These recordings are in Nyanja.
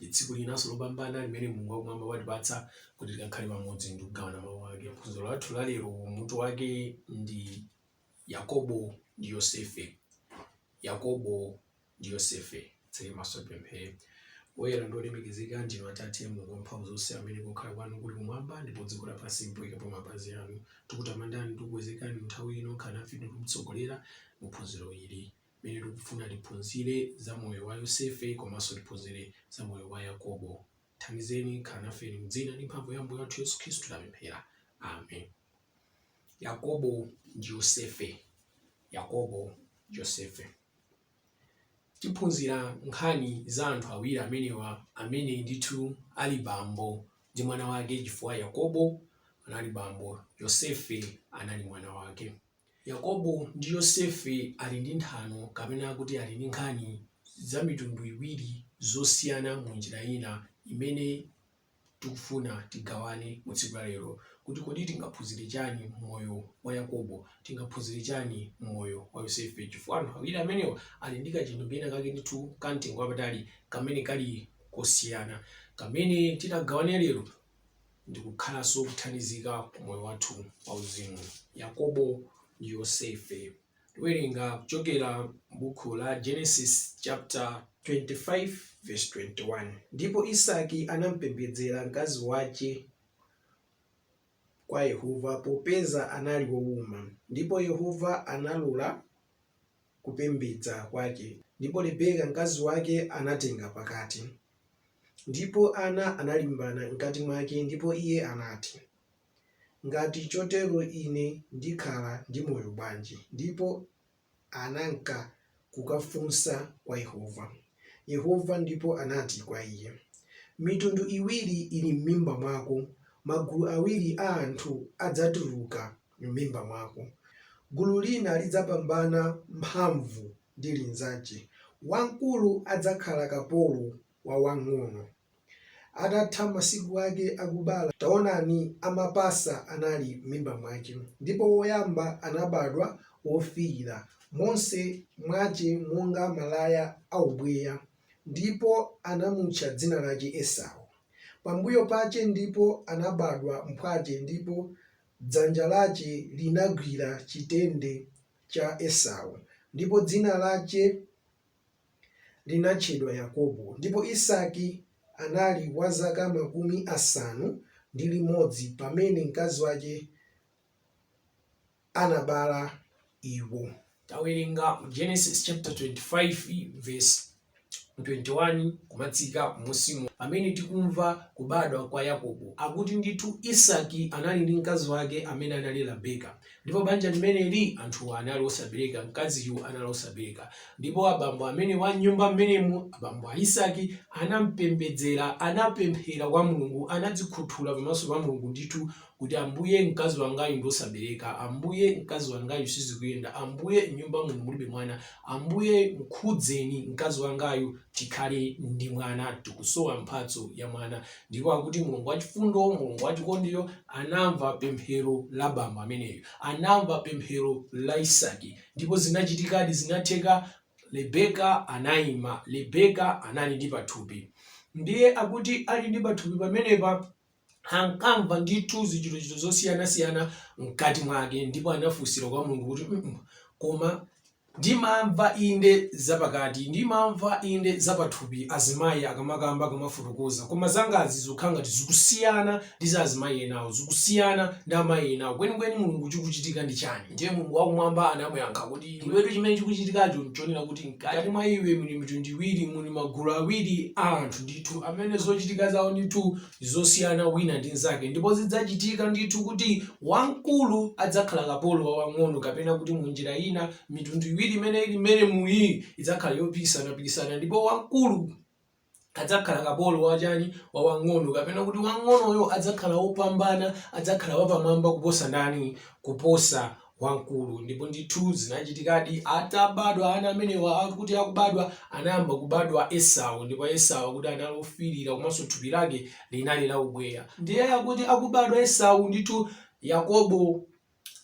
Ndi tsiku linanso lopambana limene Mulungu wakumwamba watipatsa kuti tikakhale pamodzi ndi kugawana mawu ake. Phunziro lathu la lero mutu wake ndi Yakobo ndi Yosefe. Yakobo ndi Yosefe. Titseke maso tipemphere. Woyera ndi wolemekezeka ndinu Atate Mulungu wamphamvu zonse amene kukhala kwanu kuli kumwamba ndipo dziko lapansi mpoikapo mapazi anu. Tikutamandani ndi kukukwezekani mu nthawi ino khalani nafe ndi kutitsogolera mu phunziro ili. mene tikufuna tiphunzire za moyo wa Yosefe komanso tiphunzire za moyo wa Yakobo. Tithandizeni khalani nafe mdzina ndi mphamvu ya Ambuye wathu Yesu Khristu tapemphera. Amen. Yakobo ndi Yosefe. Yakobo ndi Yosefe. Tiphunzira nkhani za anthu awiri amenewa amene ndithu ali bambo ndi mwana wake chifukwa Yakobo anali bambo, Yosefe anali mwana wake. Yakobo ndi Yosefe ali ndi nthano, kapena kuti ali ndi nkhani, za mitundu iwiri zosiyana mu njira ina imene tikufuna tigawane mu tsiku la lero kuti kodi tingaphunzire chani mmoyo wa Yakobo, tingaphunzire chani mmoyo wa Yosefe chifukwa anthu awiri amenewa ali ndi kachinthu kena kake ndithu ka mtengo wapatali kamene kali kosiyana kamene titagawane lero ndi kukhalanso othandizika ku moyo wathu wauzimu. Yakobo ndi Yosefe. Tiwerenga kuchokera m'buku la Genesis chapter 25 verse 21. Ndipo Isaki anampembedzera mkazi wache kwa Yehova, popeza anali wouma, ndipo Yehova analola kupembedza kwache, ndipo Rebeka mkazi wache anatenga pakati. Ndipo ana analimbana mkati mwake, ndipo iye anati, Ngati chotero ine ndikhala ndi moyo bwanji? Ndipo ananka kukafunsa kwa Yehova. Yehova ndipo anati kwa iye, Mitundu iwiri ili mmimba mwako, magulu awiri a anthu adzatuluka mmimba mwako, gulu lina lidzapambana mphamvu ndi linzace, wamkulu adzakhala kapolo wa wamng'ono. Atatha masiku ake akubala, taonani, amapasa anali m'mimba mwake, ndipo woyamba anabadwa wofiira monse mwace monga malaya a ubweya, ndipo anamutcha dzina lace Esau. Pambuyo pace ndipo anabadwa mphwace, ndipo dzanja lace linagwira chitende cha Esau, ndipo dzina lace linatchedwa Yakobo, ndipo Isaki anali wa zaka makumi asanu ndi limodzi pamene mkazi wace anabala iwo. Tawerenga mu Genesis chapter 25 verse 21. 21 kumatsika m'munsimu, pamene tikumva kubadwa kwa Yakobo, akuti ndithu Isaki anali ndi mkazi wake amene anali Rabeka. Ndipo banja limeneli, anthuwa anali osabereka, mkaziyu anali osabereka. Ndipo abambo amene wa m'nyumba m'menemu, abambo a Isaki, anam'pembedzera, anapemphera kwa Mulungu, anadzikhuthula pamaso pa Mulungu ndithu kuti, Ambuye, mkazi wangayu ndi wosabereka. Ambuye, mkazi wangayu sizikuyenda. Ambuye, m'nyumba muno mulibe mwana. Ambuye, mkhudzeni mkazi wangayu tikhale ndi mwana. Tikusowa mphatso ya mwana. Ndipo akuti Mulungu wachifundo, Mulungu wachikondiyo anamva pemphero la bambo ameneyu, anamva pemphero la Isaki. Ndipo zinachitikadi, zinatheka, Rebeka anayima. Rebeka anali ndi pathupi. Ndiye akuti ali ndi pathupi pamenepa, ankamva ndithu zichitochito zosiyanasiyana mkati mwake ndipo anafunsira kwa mulungu kuti mm, koma ndimamva inde zapakati ndimamva inde zapathupi azimayi akamakamba akamafotokoza koma zangazi zikukhala ngati zikusiyana ndi za azimayi enawo zikusiyana ndi amayi enawo kwenikweni mulungu chikuchitika ndi chani ndiye mulungu wakumwamba anamuyankha kuti iwetu chimene chikuchitikacho nchonena kuti mkati mwa iwe muli mitundu iwiri muli magulu awiri a anthu ndi ndithu amene zochitika zawo ndithu zosiyana wina ndi mnzake ndipo zidzachitika ndithu kuti wamkulu adzakhala kapolo wa wang'ono kapena kuti mu njira ina mitundu iwiri imene ili mmenemuyi idzakhala yopikisanapikisana ndipo wamkulu adzakhala kapolo wachani wa wang'ono kapena kuti wang'onoyo adzakhala wopambana adzakhala wapamwamba kuposa ndani kuposa wamkulu ndipo ndithu zinachitikadi atabadwa ana amenewa akuti akubadwa anayamba kubadwa esau ndipo esau akuti anali ofirira komanso thupi lake linali la ubweya ndiye akuti akubadwa esau ndithu yakobo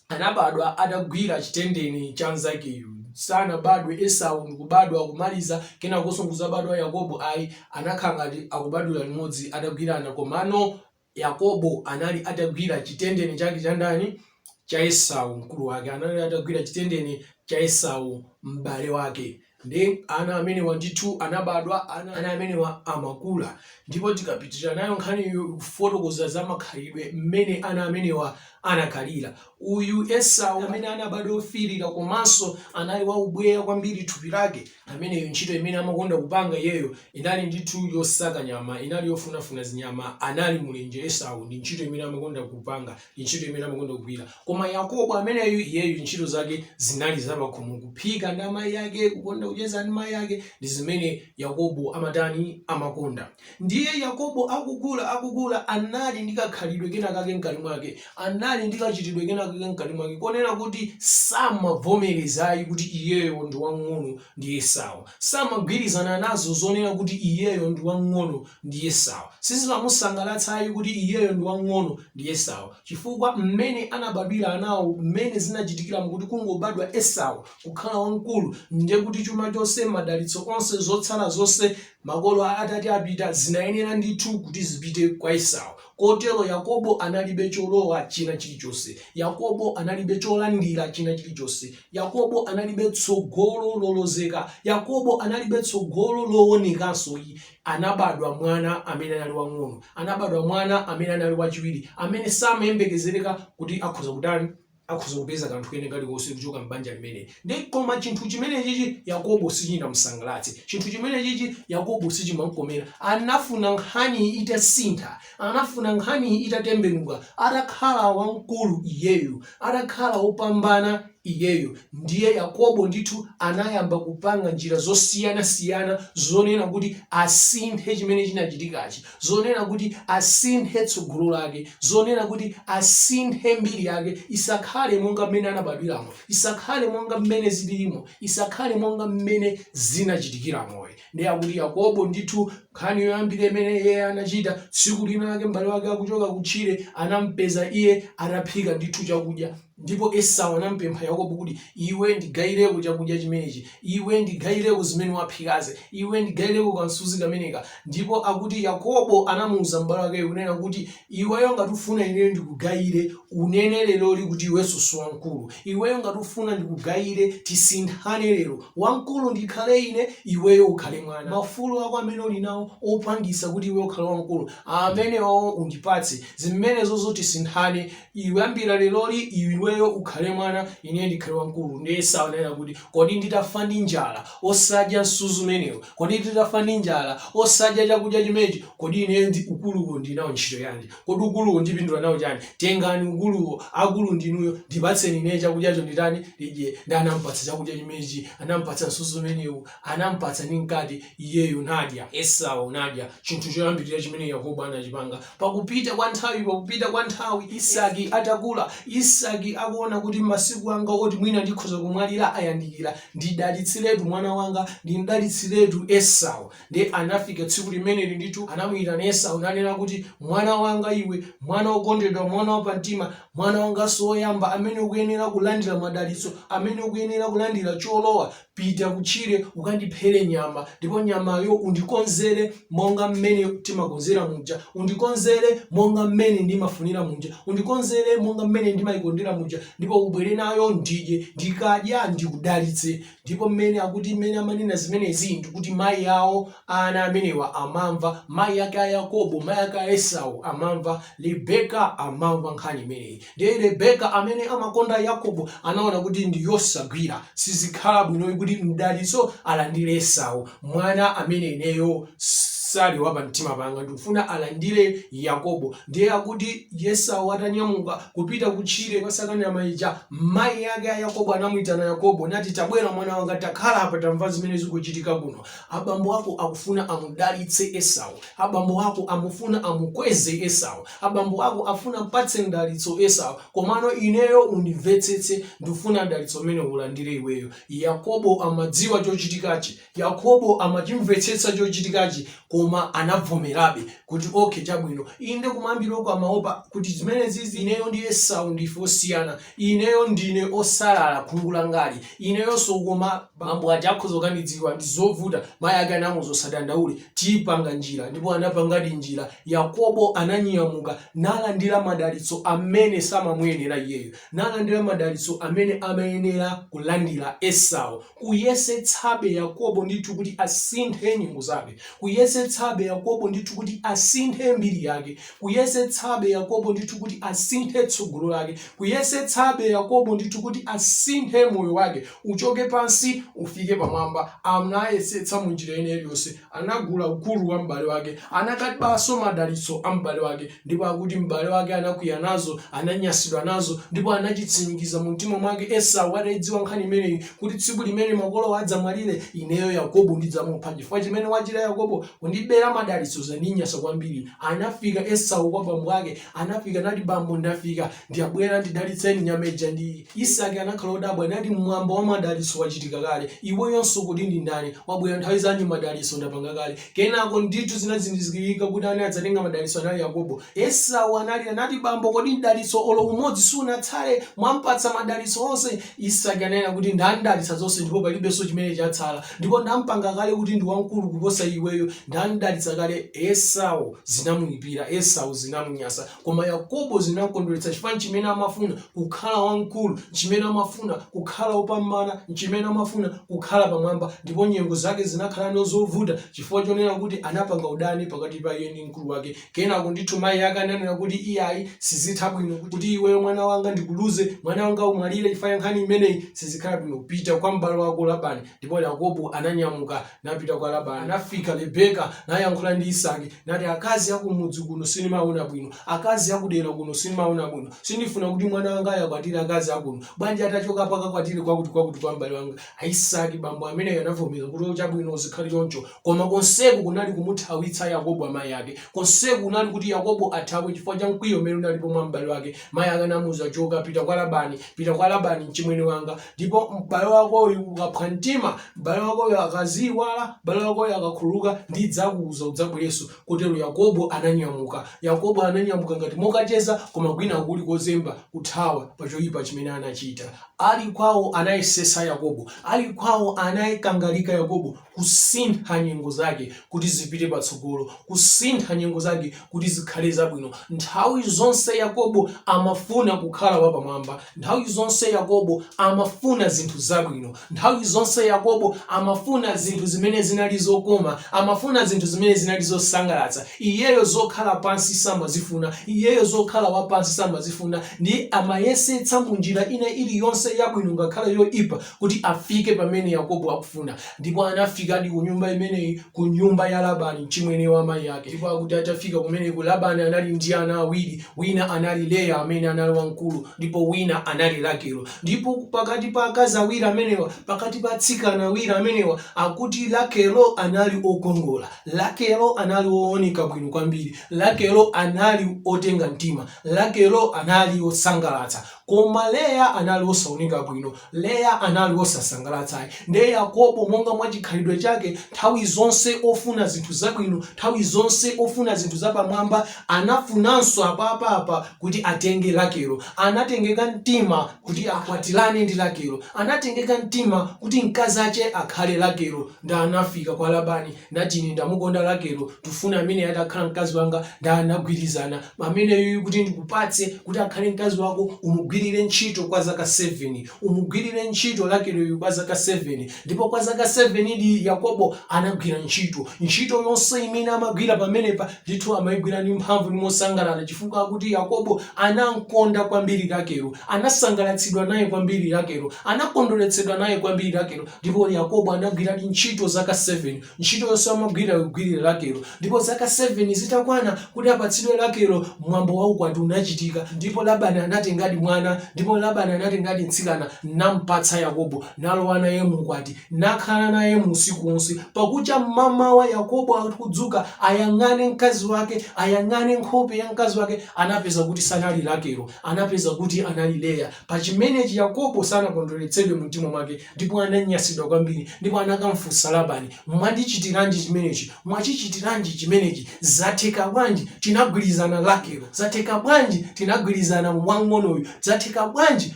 anabadwa atagwira chitendeni cha mzakeyu sanabadwe esau ndikubadwa kumaliza kenakonso nkuzabadwa yakobo ayi anakhala ngati akubadwira limodzi atagwirana komano Yakobo anali atagwira chitendeni chake cha ndani? Cha Esau, mkulu wake. Anali atagwira chitendeni cha Esau, m'bale wake. Nde ana amenewa ndithu anabadwa, ana amenewa amakula. Ndipo tikapitirira nayo nkhaniyo ikufotokoza za makhalidwe mmene ana amenewa anakhalira. Uyu Esau amene anabadwa ofiirira komanso anali waubweya kwambiri thupi lake, ameneyo ntchito imene amakonda kupanga iyeyo inali ndithu yosaka nyama inali yofunafuna zinyama anali mulenje esau ndi ntchito imene amakonda kupanga ndi ntchito imene amakonda kugwira koma yakobo ameneyu iyeyu ntchito zake zinali zapakhomo kuphika ndi amayi ake kukonda kucheza ndi mayi ake ndi zimene yakobo amatani amakonda Ndiye Yakobo akukula, akukula, anali ndi kakhalidwe kena kake mkati mwake, anali ndi kachitidwe kena kake mkati mwake, konena kuti samavomereza ayi kuti iyeyo ndi wang'ono ndi Esau. Samagwirizana nazo zonena kuti iyeyo ndi wang'ono ndi Esau. Sizimamusangalatsa ayi kuti iyeyo ndi wang'ono ndi Esau. Chifukwa mmene anabadwira anawo, mmene zinachitikiramo kuti kungobadwa Esau kukhala wamkulu, ndiye kuti chuma chonse, madalitso onse, zotsala zonse Makolo atati apita, zinayenera ndithu kuti zipite kwa Esau. Kotero Yakobo analibe cholowa china chilichonse. Yakobo analibe cholandira china chilichonse. Yakobo analibe tsogolo lolozeka. Yakobo analibe tsogolo loonekanso ayi. Anabadwa mwana amene anali wang'ono. Anabadwa mwana amene anali wachiwiri, amene samayembekezereka kuti akhoza kutani. akhoza kupeza kanthu kene kalikonse kuchoka m'banja limeneli. Koma chinthu chimenechichi Yakobo sichinamusangalatse. Chinthu chimenechichi Yakobo sichimamkomera. Anafuna nkhani itasintha. Anafuna nkhani itatembenuka. Atakhala wamkulu iyeyo, atakhala wopambana iyeyo, ndiye Yakobo ndithu anayamba kupanga njira zosiyanasiyana zonena kuti asinthe chimene chinachitikachi. zonena kuti asinthe tsogolo lake, zonena kuti asinthe mbiri yake, isakhale monga mmene anabadwiramo, isakhale monga mmene zilirimo, isakhale monga mmene zinachitikiramo ayi. Ndiye akuti Yakobo ndithu nkhani yoyambira imene iye anachita tsiku lina lake m'bale wake akuchoka kutchire anampeza iye ataphika ndithu chakudya Ndipo Esau anampempha Yakobo kuti, Iwe ndigayireko chakudya chimenechi. Iwe ndigayireko zimene waphikazi. Iwe ndigayireko kansuzi kameneka. Ndipo akuti Yakobo anamuuza m'bale wake kunena kuti, Iweyo ngati ufuna ineyo ndikugayire, unene leroli kuti iwenso si wamkulu. Iweyo ngati ufuna ndikugayire, tisinthane lero. Wamkulu ndikhale ine, iweyo ukhale mwana. Maufulu ako amene uli nawo opangisa kuti iweyo ukhale wamkulu, amenewowo undipatse. Zimenezozo tisinthane. Kuyambira leroli iweyo ukhale mwana, ineyo ndikhale wamkulu. Ndiye Esau ananena kuti, Kodi nditafa ndi njala osadya msuzi umenewu? Kodi nditafa ndi njala osadya chakudya chimenechi? Kodi ineyo ukuluwo ndi nawo ntchito yanji? Kodi ukuluwo ndipindula nawo chani? Tengani ukuluwo, akulu ndinuyo. Ndipatseni ineyo chakudyacho nditani? Ndidye. Ndiye anampatsa chakudya chimenechi, anampatsa msuzi umenewu. anam'patsa ndi mkate, iyeyo nadya, Esau nadya. Chinthu choyambirira chimene Yakobo anachipanga. Pakupita kwa nthawi, pakupita kwa nthawi, Isaki atakula, Isaki akuona kuti masiku anga oti mwina ndikhoza kumwalira ayandikira, ndidalitsiretu mwana wanga, ndimdalitsiretu Esau. Ndiye anafika tsiku limeneli ndithu, anamuyitana Esau nanena kuti, Mwana wanga iwe, mwana wokondedwa, mwana wapamtima, mwana wanganso woyamba, amene ukuyenera kulandira madalitso, amene ukuyenera kulandira cholowa, Pita kutchire ukandiphere nyama, ndipo nyamayo undikonzere monga mmene timakonzera muja. Undikonzere monga mmene ndimafunira muja. Undikonzere monga mmene ndimayikondera muja, ndipo ubwere nayo ndidye. Ndikadya ndikudalitse. Ndipo mmene akuti, mmene amanena zimenezi ndi kuti mayi awo a ana amenewa amamva, mayi ake a Yakobo, mayi ake a Esau amamva, Rebeka amamva nkhani imeneyi. Ndiye Rebeka amene amakonda Yakobo anaona kuti ndi yosagwira, sizikhala bwino ayi kuti mdalitso alandire Esau, mwana amene ineyo sali wa pamtima panga, ndikufuna alandire Yakobo. Ndiye akuti Esau atanyamuka kupita kutchire kukasaka nyama ija, mayi ake a Yakobo anamuitana Yakobo nati, Tabwera mwana wanga, takhala apa tamva zimene zikuchitika kuno. Abambo ako akufuna amudalitse Esau, abambo ako akufuna amukweze Esau. Abambo ako afuna mpatse mdalitso Esau, komano ineyo undimvetsetse, ndifuna mdalitso umenewu ulandire iweyo. Yakobo amadziwa chochitikachi. Yakobo amachimvetsetsa chochitikachi, koma anabvomerabe kuti, okay, chabwino. Inde kumayambiroko amaopa kuti zimenezizi ineyo ndi Esau ndife osiyana. Ineyo ndine osalala khungu langali ineyonso koma bambo aja akhoza kukandidziwa ndizovuta mayi ake anamuuza usadandaule tipanga njira ndipo anapangadi njira yakobo ananyamuka nalandira madalitso amene samamuyenera iyeyo nalandira madalitso amene amayenera kulandira esau kuyesetsabe yakobo ndithu kuti asinthe nyengo zake kuyesetsabe yakobo ndithu kuti asinthe mbiri yake kuyesetsabe Yakobo ndithu kuti asinthe tsogolo lake, kuyesetsabe Yakobo ndithu kuti asinthe moyo wake, uchoke pansi ufike pamwamba. Anayesetsa mu njira ina iliyonse, anagula ukulu wa m'bale wake, anakabanso madalitso a m'bale wake, ndipo akuti m'bale wake anakwiya nazo, ananyasidwa nazo, ndipo anachitsimikiza mu mtima mwake Esau ataidziwa nkhani imeneyi kuti tsiku limene makolowa adzamwalire, ineyo Yakobo ndidzamupha. Chifukwa chimene wachita Yakobo, kundibera madalitso, zandinyasa kwambiri. Anafika Esau kwa bambo ake, anafika nati, Bambo, ndafika, ndabwera, ndidalitseni nyama ija ndi iyi. Isaki anakhala odabwa nati, Mwambo wa madalitso wachitika kale, iweyonso ukuti ndi ndani? Wabwera nthawi zanji madalitso ndapanga kale? Kenako ndithu zinazindikirika kuti amene adzatenga madalitso anali Yakobo. Esau analira nati, Bambo, kodi mdalitso olo umodzi sunatsale? Mwampatsa madalitso onse. Isaki ananena kuti, Ndamdalitsa zonse ndipo palibenso chimene chatsala. ndipo ndampanga kale kuti ndi wamkulu kuposa iweyo, ndamdalitsa kale. Esau zinamuipira, Esau zinamunyasa, koma Yakobo zinamkondweretsa chifukwa nchimene amafuna, kukhala wamkulu, nchimene amafuna, kukhala wopambana, nchimene amafuna, kukhala pamwamba. Ndipo nyengo zake zinakhalano zovuta chifukwa chonena kuti anapanga udani pakati pa iye ndi mkulu wake Kenako ndithu mayi ake ananena kuti, Iyayi, sizitha bwino kuti iweyo mwana wanga ndikuluze, mwana wanga umwalire chifukwa cha nkhani imeneyi. Sizikhala bwino. Pita kwa m'bale wako Labani. Ndipo Yakobo ananyamuka napita kwa Labani. Anafika Rebeka nayankhula ndi Isaki nati, Akazi a ku mudzi kuno sindimawaona bwino. Akazi a kudera kuno sindimawaona bwino. Sindifuna kuti mwana wangayu akwatire akazi a kuno. Bwanji atachokapo akakwatire kwakutikwakuti kwa m'bale wanga? Isaki, bambo ameneyo anavomera kuti, O, chabwino, zikhale choncho. Koma konseku kunali kumuthawitsa Yakobo amayi ake. Konseku kunali kuti Yakobo athawe chifukwa cha mkwiyo umene unalipo mwa m'bale wake. Mayi ake anamuwuza, Choka, pita kwa Labani, pita kwa Labani mchimwene wanga. Ndipo m'bale wakoyu ukaphwa mtima, m'bale wakoyu akaziyiwala, m'bale wakoyu akakhululuka, ndidzakuwuza udzabwerenso. Kotero Yakobo ananyamuka. Yakobo ananyamuka ngati mokacheza koma kwinaku kuli kozemba, kuthawa pa choyipa chimene anachita. Ali kwawo anayesetsa Yakobo, ali kwawo anakangalika Yakobo kusintha nyengo zake kuti zipite patsogolo, kusintha nyengo zake kuti zikhale zabwino. Nthawi zonse Yakobo amafuna kukhala wapamwamba, nthawi zonse Yakobo amafuna zinthu zabwino, nthawi zonse Yakobo amafuna zinthu zimene zinali zokoma, amafuna zinthu zimene zinali zosangalatsa. Iyeyo zokhala pansi samazifuna, iyeyo zokhala wapansi samazifuna. Ndiye amayesetsa mu njira ina ili yonse yabwino ngakhale yoipa kuti afike pamene Yakobo akufuna. Ndipo anafikadi ku nyumba imeneyi, ku nyumba ya Labani, mchimwene wa amayi ake. Ndipo akuti atafika kumeneko, Labani anali ndi ana awiri, wina anali Leya amene anali wamkulu ndipo wina anali Rakelo. Ndipo pakati pa akazi awiri amenewa, pakati pa atsikana awiri amenewa, akuti Rakelo anali okongola. Rakelo anali ooneka bwino kwambiri. Rakelo anali otenga mtima. Rakelo anali osangalatsa. Koma Leya anali osawoneka bwino. Leya anali osasangalatsa ayi. Ndiye Yakobo, monga mwa chikhalidwe chake, nthawi zonse ofuna zinthu zabwino, nthawi zonse ofuna zinthu zapamwamba, anafunanso apapa apa kuti atenge Rakelo. Anatengeka mtima kuti akwatirane ndi Rakelo. Anatengeka mtima kuti mkazi wache akhale Rakelo. Ndiye anafika kwa Labani. Nati ine ndamukonda Rakelo, ndifuna ameneyo atakhala mkazi wanga, ndiye anagwirizana, ameneyu kuti ndikupatse, kuti akhale mkazi wako, umugwirire ntchito kwa zaka 7. Umugwirire ntchito Rakeloyu kwa zaka 7. Ndipo kwa zaka 7 di, Yakobo anagwira ntchito. Ntchito yonse imene amagwira pamenepa, ndithu amaigwira ndi mphamvu ndi mosangalala chifukwa akuti Yakobo anamkonda kwambiri Rakelo, anasangalatsidwa naye kwambiri Rakelo, anakondweretsedwa naye kwambiri Rakelo. Ndipo Yakobo anagwiradi ntchito zaka 7. Ntchito yonse amagwira kugwirira Rakelo. Ndipo zaka 7 zitakwana kuti apatsidwe Rakelo, mwambo wa ukwati unachitika. Ndipo Labani anatengadi mwana, ndipo Labani anatengadi mtsikana nam'patsa Yakobo, nalowa naye mu ukwati, nakhala naye mu usiku wonse. Pakucha m'mamawa Yakobo akudzuka, ayang'ane mkazi wake, ayang'ane nkhope ya mkazi wake, anapeza kuti sanali Rakelo, anapeza kuti anali Leya. Pa chimenechi Yakobo sanakondweretsedwe mu mtima mwake, ndipo ananyansidwa kwambiri, ndipo anakamfunsa Labani, Mwandichitiranji chimenechi? Mwachichitiranji chimenechi? Zatheka bwanji tinagwirizana Rakelo? Zatheka bwanji tinagwirizana wamng'onoyu? Zatheka bwanji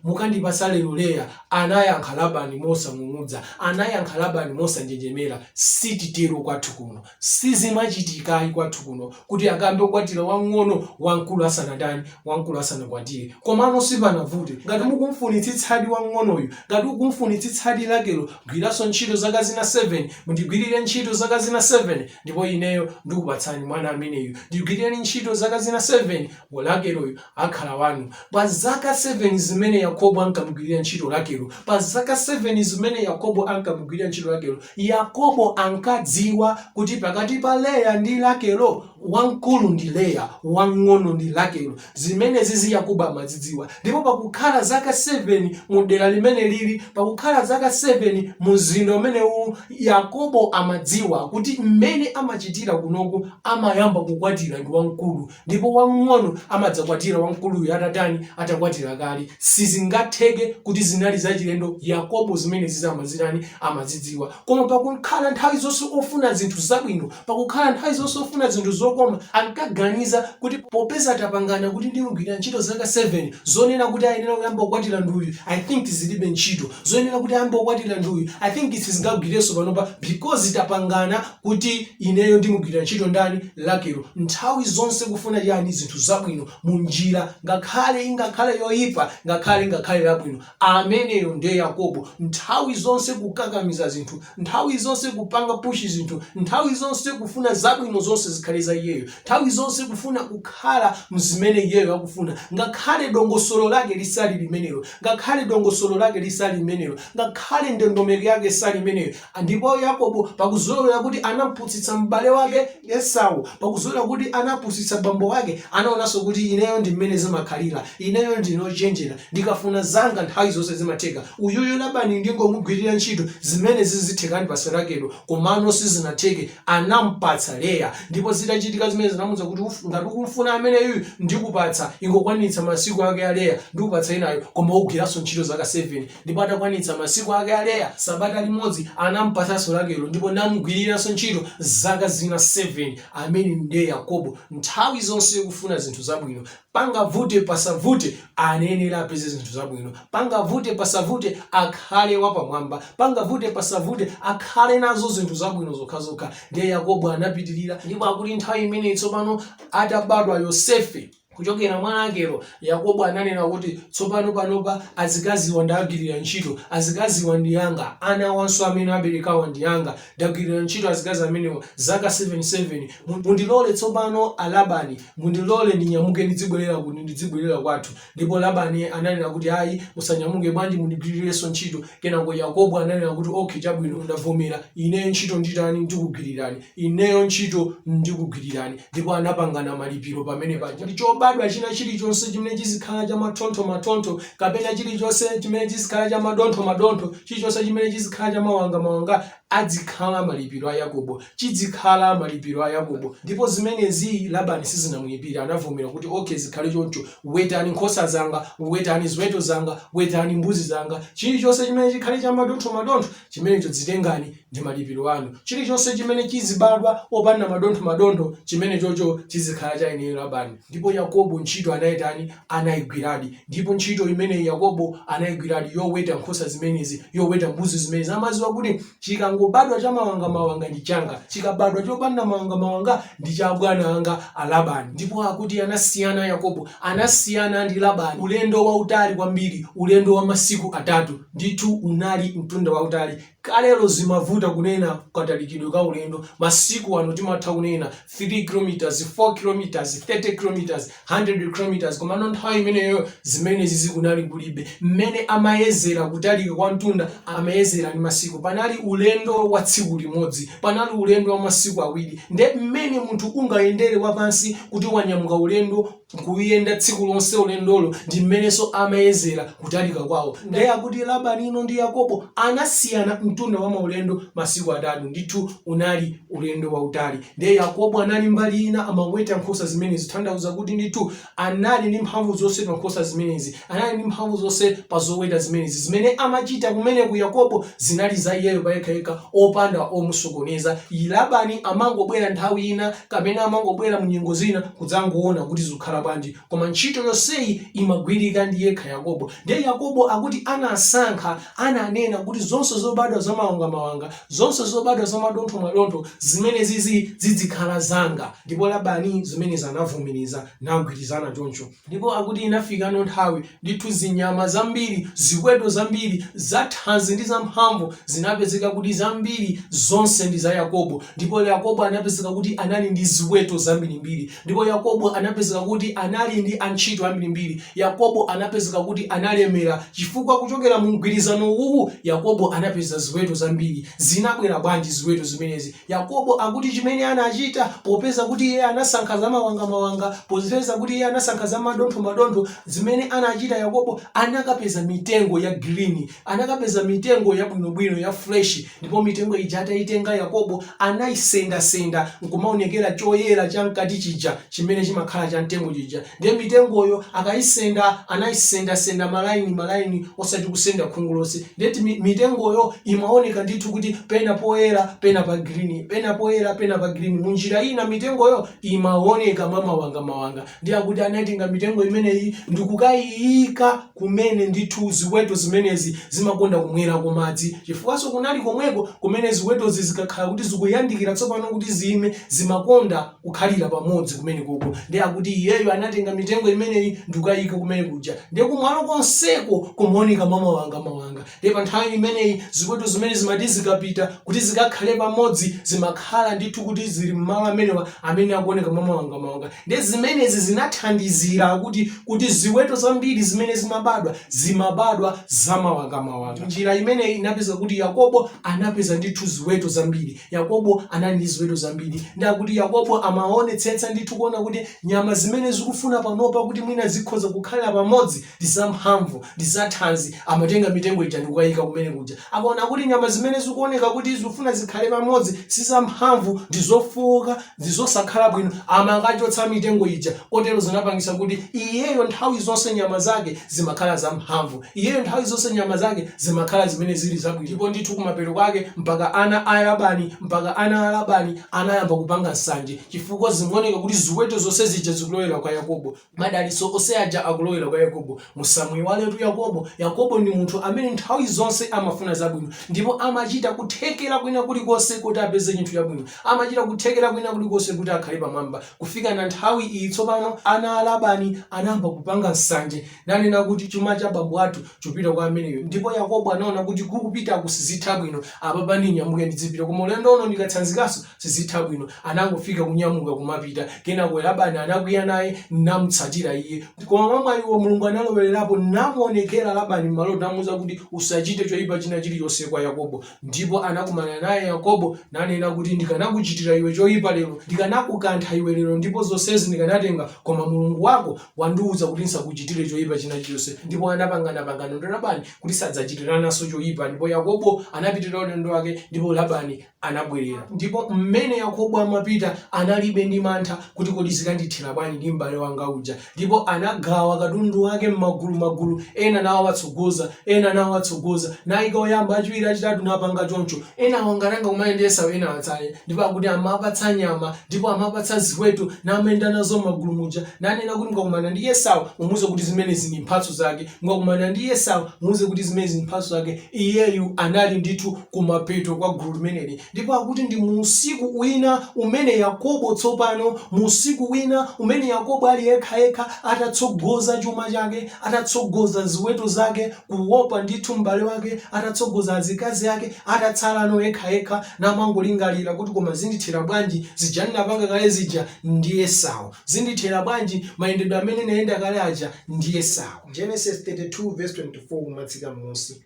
mukandipatsa lero Leya? Anayankha Labani mosang'ung'udza, anayankha Labani mosanjenjemera, Sititero kwathu kuno. Sizimachitika ayi kwathu kuno kuti ayambe kukwatira wamng'ono wamkulu asanatani, wamkulu asanakwatire. Komano sipanavute. Ngati mukumfunitsitsadi wamng'onoyu, ngati ukumfunitsitsadi Rakelo, gwiranso ntchito zaka zina 7, mundigwirire ntchito zaka zina 7, ndipo ineyo ndikupatsani mwana ameneyu. Ndigwirireni ntchito zaka zina 7, Rakeloyu akhala wanu. Pa zaka 7 zimene Yakobo ankamugwirira ntchito Rakelo, pa zaka 7 zimene Yakobo ankamugwirira ntchito Rakelo, Yakobo ankadziwa kuti pakati pa Leya ndi Rakelo, wamkulu ndi Leya, wamng'ono ndi Rakelo. Zimenezizi Yakobo amazidziwa. Ndipo pakukhala zaka 7 mu dera limeneli ili, pakukhala zaka 7 mu mzinda umene uwu, Yakobo amadziwa kuti mmene amachitira kunoku amayamba kukwatira ndi wamkulu, Ndipo wamng'ono amadzakwatira wamkuluyu atatani? atakwatira kale. Sizingatheke kuti zinali zachilendo Yakobo zimenezizi amazitani? amazidziwa. Koma pakukhala nthawi zonse ofuna zinthu zabwino, pakukhala nthawi zonse ofuna zinthu zokoma, ankaganiza kuti popeza tapangana kuti ndimgwira ntchito zaka 7, zonena kuti ayenera kuyamba kukwatira ndi uyu, I think zilibe ntchito. Zonena kuti ayamba kukwatira ndi uyu, I think sizingagwirenso panopa because tapangana kuti ineyo ndimgwira ntchito ndani? Rakelo, nthawi zonse kufuna chani zinthu zabwino mu njira ngakhale ingakhale yoyipa ngakhale ingakhale labwino ameneyo ndiye Yakobo nthawi zonse kukakamiza zinthu nthawi zonse kupanga pushi zinthu nthawi zonse kufuna zabwino zonse zikhale za iyeyo nthawi zonse kufuna kukhala mzimene iyeyo akufuna ngakhale dongosolo lake lisali limenelo ngakhale dongosolo lake lisali limenelo ngakhale ndondomeko yake sali imeneyo Ndipo Yakobo, pa kuzolowera kuti anapusitsa m'bale wake Esau, pa kuzolowera kuti anapusitsa bambo wake, anaonanso kuti ineyo ndi mmene zimakhalira. Ineyo ndine ochenjera. Ndikafuna zanga nthawi zonse zimatheka. Uyuyu Labani ndingomugwirira ntchito, zimenezi zitheka andipatsa Rakelo. Komano sizinatheke. Anampatsa Leya. Ndipo zitachitika zimenezi anamuuza kuti, ngati ukumfuna ameneyuyu, ndikupatsa. Ingokwanitsa masiku ake a Leya, ndikupatsa winayo. Koma ugwiranso ntchito zaka 7. Ndipo atakwanitsa masiku ake a Leya sabata limodzi, anampatsanso Rakelo, ndipo namgwiriranso ntchito zaka zina 7, amene ndiye Yakobo, nthawi zonse kufuna zinthu zabwino, pangavute pasavute, anayenera apeze zinthu zabwino, pangavute pasavute, akhale wapamwamba, pangavute pasavute, akhale nazo zinthu zabwino zokhazokha. Ndiye Yakobo anapitirira, ndipo akuti nthawi imeneyi tsopano atabadwa Yosefe. Kuchokera mwa Rakelo, Yakobo ananena kuti, Tsopano panopa azikaziwa ndawagwirira ntchito. Azikaziwa ndi anga, ana awanso amene aberekawa ndi anga. Ndagwirira ntchito azikazi amenewa zaka 7, 7. Mundilole tsopano a Labani, mundilole ndinyamuke ndidzibwerera ku, ndidzibwerera kwathu. Ndipo Labani ananena kuti, Ayi, musanyamuke, bwanji mundigwirirenso ntchito Kenako Yakobo ananena kuti, Ok, chabwino, ndavomera. Ineyo ntchito nditani? Ndikugwirirani. Ineyo ntchito ndikugwirirani. Ndipo anapangana malipiro pamene paja kuti chobadwa china chilichonse chimene chizikhala cha mathontho mathontho kapena chilichonse chimene chizikhala cha madontho madontho, chilichonse chimene chizikhala cha mawanga mawanga, adzikhala malipiro a Yakobo, chidzikhala malipiro a Yakobo. Ndipo zimenezi Labani sizinamuyipire, anavomera kuti, Ok, zikhale choncho. Wetani nkhosa zanga, wetani ziweto zanga, wetani mbuzi zanga, chilichonse chimene chikhale cha madontho madontho, chimenecho zitengani, ndi malipiro anu. Chilichonse chimene chizibadwa opanda madontho madontho, chimenechocho chizikhala cha ineyo Labani. Ndipo Yakobo ntchito anayitani? anaigwiradi. Ndipo ntchito imeneyi Yakobo anaigwiradi, yoweta nkhosa zimenezi, yoweta mbuzi zimenezi. Amadziwa kuti chikangobadwa chamawangamawanga ndi changa, chikabadwa chopanda mawangamawanga ndi cha abwana anga a Labani. Ndipo akuti anasiyana Yakobo, anasiyana ndi Labani ulendo wautali kwambiri, ulendo wa masiku atatu. Ndithu unali mtunda wautali. Kalelo zimavuta kunena katalikidwe ka ulendo, masiku ano timatha kunena 3 km, 4 km, 30 km, 100 km komano nthawi imeneyoyo zimenezizi kunali kulibe. Mmene amayezera kutalika kwa mtunda amayezera ndi masiku. Panali ulendo wa tsiku limodzi, panali ulendo wa masiku awiri. Nde mmene munthu ungayendere wapansi kuti wanyamuka ulendo kuyenda tsiku lonse ulendolo ndi mmenenso amayezera kutalika kwawo. Ndiye akuti Labanino ndi Yakobo anasiyana mtunda wa maulendo masiku atatu. Ndithu unali ulendo wautali. Ndiye Yakobo anali mbali ina amaweta nkhosa zimenezi, kutanthauza kuti ndithu anali ndi mphamvu zonse pa nkhosa zimenezi. Anali ndi mphamvu zonse pa zoweta zimenezi. Zimene amachita kumeneku Yakobo zinali za iyeyo payekhayekha opanda omusokoneza. Labani amangobwera nthawi ina kapena amangobwera mu nyengo zina kudzangoona kuti zikukhala bwanji. Koma ntchito yonseyi imagwirika ndi yekha Yakobo. Ndiye Yakobo akuti anasankha, ananena kuti zonse zobadwa za mawangamawanga, zonse zobadwa za madontho-madontho, zimenezizi zidzikhala zanga. Ndipo Labani zimenezi anavomereza, nagwirizana choncho. Ndipo akuti inafikano nthawi, ndithu zinyama zambiri, ziweto zambiri, zathanzi ndi zamphamvu, zinapezeka kuti zambiri zonse ndi za Yakobo. Ndipo Yakobo anapezeka kuti anali ndi ziweto zambirimbiri. Ndipo Yakobo anapezeka kuti anali ndi antchito ambirimbiri. Yakobo anapezeka kuti analemera, chifukwa kuchokera mu mgwirizano uwu, Yakobo anapeza ziweto zambiri. Zinabwera bwanji ziweto zimenezi? Yakobo akuti chimene anachita, popeza kuti iye anasankha zamawanga-mawanga, popeza kuti iye anasankha zamadontho-madontho, zimene anachita Yakobo, anakapeza mitengo ya green, anakapeza mitengo yabwinobwino, ya fresh, ndipo mitengo ija ataitenga Yakobo, anaisenda-senda, nkumaonekera choyera chamkati chija chimene chimakhala cha mtengo chija. Ndiye mitengoyo akaisenda, anaisendasenda malaini malaini osati kusenda khungu lonse. Ndiye timi- mitengoyo imaoneka ndithu kuti pena poyera pena pa green pena poyera pena pa green mu njira ina mitengoyo imaoneka mwa mawangamawanga ndiye akuti anaitenga mitengo imeneyi ndikukaiika kumene ndithu ziweto zimenezi zimakonda kumwerako madzi chifukwanso kunali komweko kumene ziwetozi zikakhala kuti zikuyandikira tsopano kuti ziime, zimakonda kukhalira pamodzi kumenekoko. Ndiye akuti iyeyo anatenga mitengo imeneyi ndikukaiika kumene kuja. Ndiye kumalo konseko kumaoneka mwamawangamawanga. Ndiye pa nthawi imeneyi ziweto zimene zimati zikapita kuti zikakhale pamodzi zimakhala ndithu kuti zili m'malo amenewa amene akuoneka mwamawangamawanga. Ndiye zimenezi zinathandizira kuti kuti ziweto zambiri zimene zimabadwa, zimabadwa zamawangamawanga. Njira imeneyi inapeza kuti Yakobo anapeza ndithu ziweto zambiri. Yakobo anali ndi ziweto zambiri. Ndiye akuti Yakobo amaonetsetsa ndithu kuona kuti nyama zimene zikufuna panopa kuti mwina zikhoza kukhalira pamodzi, ndi zamphamvu, ndi zathanzi, amatenga mitengo ija ndi kukayika kumene kuja. Akaona kuti nyama zimene zikuoneka kuti zikufuna zikhale pamodzi si zamphamvu, ndi zofooka, ndi zosakhala bwino, amakachotsa mitengo ija. Kotero zinapangitsa kuti iyeyo nthawi zonse nyama zake zimakhala zamphamvu. Iyeyo nthawi zonse nyama zake zimakhala zimene zili zabwino. Ndipo ndithu kumapeto kwake mpaka ana a Labani, mpaka ana a Labani anayamba kupanga nsanje chifukwa zimaoneka kuti ziweto zonse zija zikulowera kwa Yakobo. Madalitso onse aja akulowera kwa Yakobo. Musamuiwaletu Yakobo. Yakobo ndi munthu amene nthawi zonse amafuna zabwino ndipo amachita kuthekera kwina kulikonse kuti apeze chinthu chabwino. Amachita kuthekera kwina kulikonse kuti akhale pamwamba. Kufikana nthawi iyi tsopano ana a Labani anayamba kupanga nsanje nanena kuti, Chuma cha bambo athu chikupita kwa ameneyu. Ndipo Yakobo anaona kuti kukupitaku sizitha bwino. Apapa ndinyamuke ndidzipita. Koma ulendo uno ndikatsanzikanso. sizitha bwino. Anangofika, kunyamuka, kumapita. Kenako Labani anakwiya naye namutsatira iye. Koma mwamwayi wo, Mulungu analowererapo namuwonekera Labani m'maloto namuuza kuti, Usachite choyipa china chilichonse kwa Yakobo. Ndipo anakumana naye Yakobo nanena kuti, Ndikanakuchitira iwe choyipa lero, ndikanakukantha iwe lero ndipo zonsezi ndikanatenga, koma Mulungu wako wandiwuza kuti ndisakuchitire choyipa china chilichonse. Ndipo anapangana pangano ndi Labani kuti sadzachitirananso choyipa. Ndipo Yakobo anapitirira ulendo wake ndipo Labani anabwerera. Ndipo mmene Yakobo amapita, anali be ndi mantha kuti kodi zikandithera bwanji ndi m'bale wanga uja. Ndipo anagawa katundu wake m'magulu magulu, ena nawatsogoza, ena nawatsogoza, naika oyamba, achiwiri, achitatu, napanga choncho. Enawo ngati angakumane ndi Esau enawo atsale. Ndipo akuti amapatsa nyama, ndipo amapatsa ziweto, namayenda nazo m'magulu muja, nanena kuti mukakumana ndi Esau, mumuuze kuti zimenezi ndi mphatso zake, mukakumana ndi Esau, muuze kuti zimenezi ndi mphatso zake. Iyeyu anali ndithu kumapeto kwa gulu limeneli, ndipo akuti ndi mu usiku wina umene Yakobo tsopano, mu usiku wina umene Yakobo ali yekhayekha, atatsogoza chuma chake, atatsogoza ziweto zake, kuwopa ndithu m'bale wake, atatsogoza azikazi ake, atatsalano yekhayekha, namangolingalira kuti koma zindithera bwanji zija ndinapanga kale zija ndi Esau? Zindithera bwanji mayendedwe amene nayenda kale aja ndi Esau? Genesis 32 verse 24 kumatsika m'munsi.